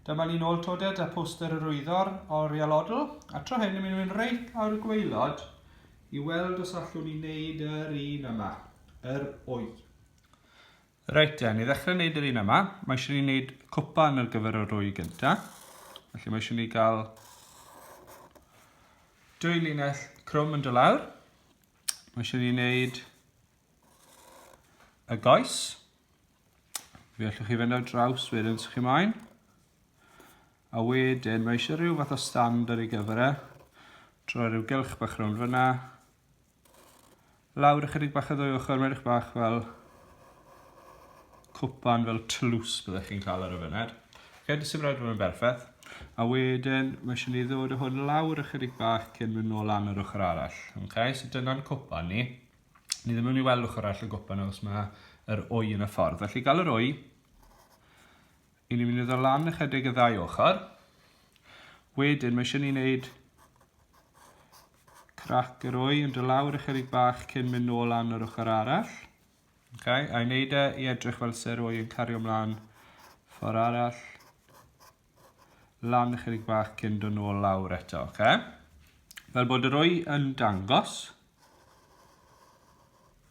Dyma ni'n ôl todet a poster yr wyddor oriel odl, a tro hyn yn mynd i'n reit lawr y gweilod i weld os allwn ni wneud yr un yma, yr wy. Reit te, ni ddechrau wneud yr un yma, mae eisiau ni wneud cwpan ar gyfer yr wy gynta, felly mae eisiau ni gael dwy linell crwm yn dylawr, mae eisiau ni wneud y goes, Fe allwch chi fynd ar draws wedyn sy'ch chi moyn. A wedyn mae eisiau rhyw fath o stand ar ei gyfer e. Troi rhyw gylch bach rhwng fyna. Lawr ychydig bach o ddwy ochr, mae'n eich bach fel cwpan fel tlws byddwch chi'n cael ar y fyned. Fe dy sy'n rhaid fod yn berffaith. A wedyn, mae eisiau ni ddod o hwn lawr ychydig bach cyn mynd nôl lan yr ochr arall. Okay? So dyna'n cwpan ni. Ni ddim yn mynd i weld ochr arall y gopa nawr os mae yr oi yn y ffordd. Felly gael yr oi, i ni'n mynd i ddod lan ychydig y ddau ochr. Wedyn mae eisiau ni wneud crac yr oi yn dod lawr ychydig bach cyn mynd nôl lan yr ochr arall. Okay, a i wneud e i edrych fel se'r oi yn cario ymlaen ffordd arall. lan ychydig bach cyn dod nôl lawr eto, oce? Okay? Fel bod yr wy yn dangos.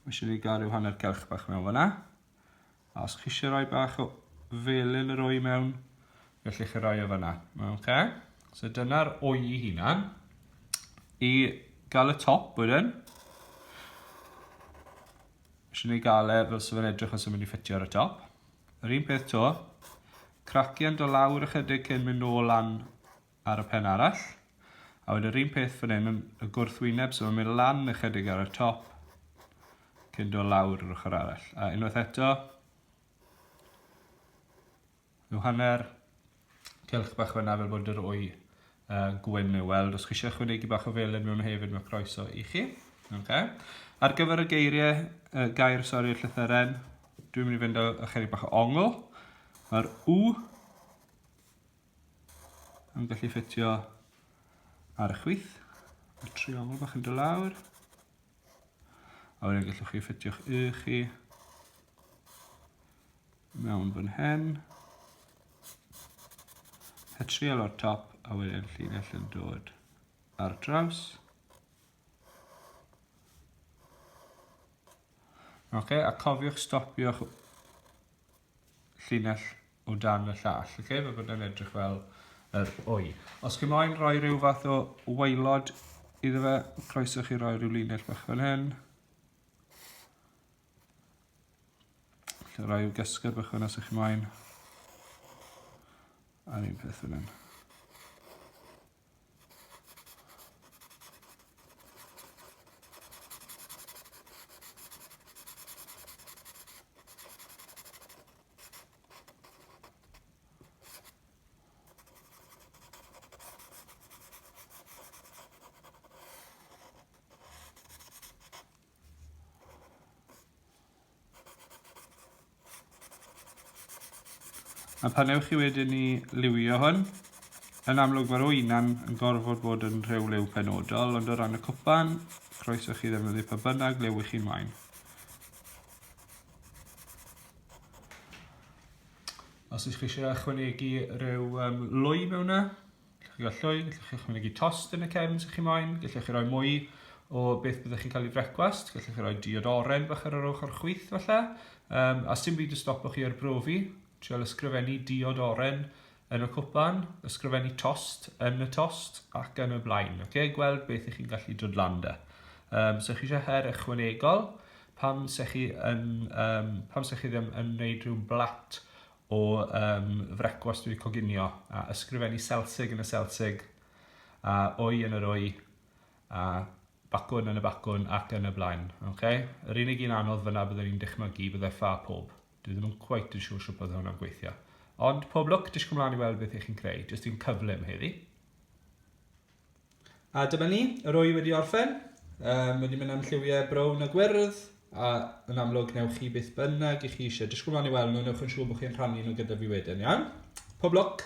Mae eisiau ni gael rhyw hanner celch bach mewn fyna. A os chi eisiau rhoi bach o felyn yr wy mewn, felly chi rhoi o fyna. Oce? Okay? So dyna'r wy i hunan. I gael y top wedyn, eisiau ni gael e fel sy'n edrych os yw'n mynd i ffitio ar y top. Yr un peth to, cracian do lawr ychydig cyn mynd nôl lan ar y pen arall. A wedyn yr un peth fan hyn yn y gwrthwyneb, so mae'n mynd lan ychydig ar y top cyn do lawr yr ochr arall. A unwaith eto, rhyw hanner cylch bach fyna fel bod yr wy uh, gwyn i'w weld. Os chi eisiau chwynegu bach o felen mewn hefyd, mae croeso i chi. Okay. Ar gyfer y geiriau, uh, gair, sori, llythyren, dwi'n mynd i fynd â chydig bach o ongl. Mae'r u yn gallu ffitio ar y chwith. Mae'r triongl bach yn dod lawr. A wedyn gallwch chi ffitio'ch y chi Mewn fan hyn. A trial o'r top a wedyn llinell yn dod ar draws. Oce, okay, a cofiwch stopio'ch llinell o dan y llall. Oce, okay, fe bod yn edrych fel yr wy. Os chi moyn rhoi rhyw fath o waelod iddo fe, croeso chi roi rhyw linell bach fan hyn. Lle rai yw gysgod bach yna sy'ch ymlaen. A'r un peth fan hyn. A pan ewch chi wedyn i liwio hwn, yn amlwg mae'r wynan yn gorfod bod yn rhyw liw penodol, ond o ran y cwpan, croeso chi ddefnyddio pa bynnag liw i chi'n wain. Os ydych chi eisiau ychwanegu rhyw um, lwy mewn yna, Chi gael llwy, gallwch chi ychwanegu tost yn y cefn sy'ch chi moyn, gallwch chi roi mwy o beth byddwch chi'n cael ei frecwast, gallwch chi roi diod oren bach ar yr ochr chwyth falle, um, a sy'n byd y stopo chi ar brofi, trial ysgrifennu diod oren yn y cwpan, ysgrifennu tost yn y tost ac yn y blaen. Okay? Gweld beth ych chi'n gallu dod lan da. Um, so chi eisiau her ychwanegol, pam se chi, yn, um, pam se chi ddim yn gwneud rhyw blat o um, frecwast wedi coginio, a ysgrifennu Selsig yn y Selsig, a oi yn yr oi, a bacwn yn y bacwn ac yn y blaen. Okay? Yr unig un anodd fyna byddwn i'n dychmygu byddai ffa pob. Dwi ddim yn cweit yn siŵr sut bydd hwnna'n gweithio. Ond pob lwc, disgwyl mlaen i weld beth ych chi'n creu. Jyst un cyflym heddi. A dyma ni, yr wy wedi orffen. Um, wedi mynd am lliwiau brown a gwyrdd, a yn amlwg newch chi beth bynnag i chi eisiau. Disgwyl mlaen i weld nhw, newch yn siŵr bod chi'n rhannu nhw gyda fi wedyn, iawn? Pob lwc!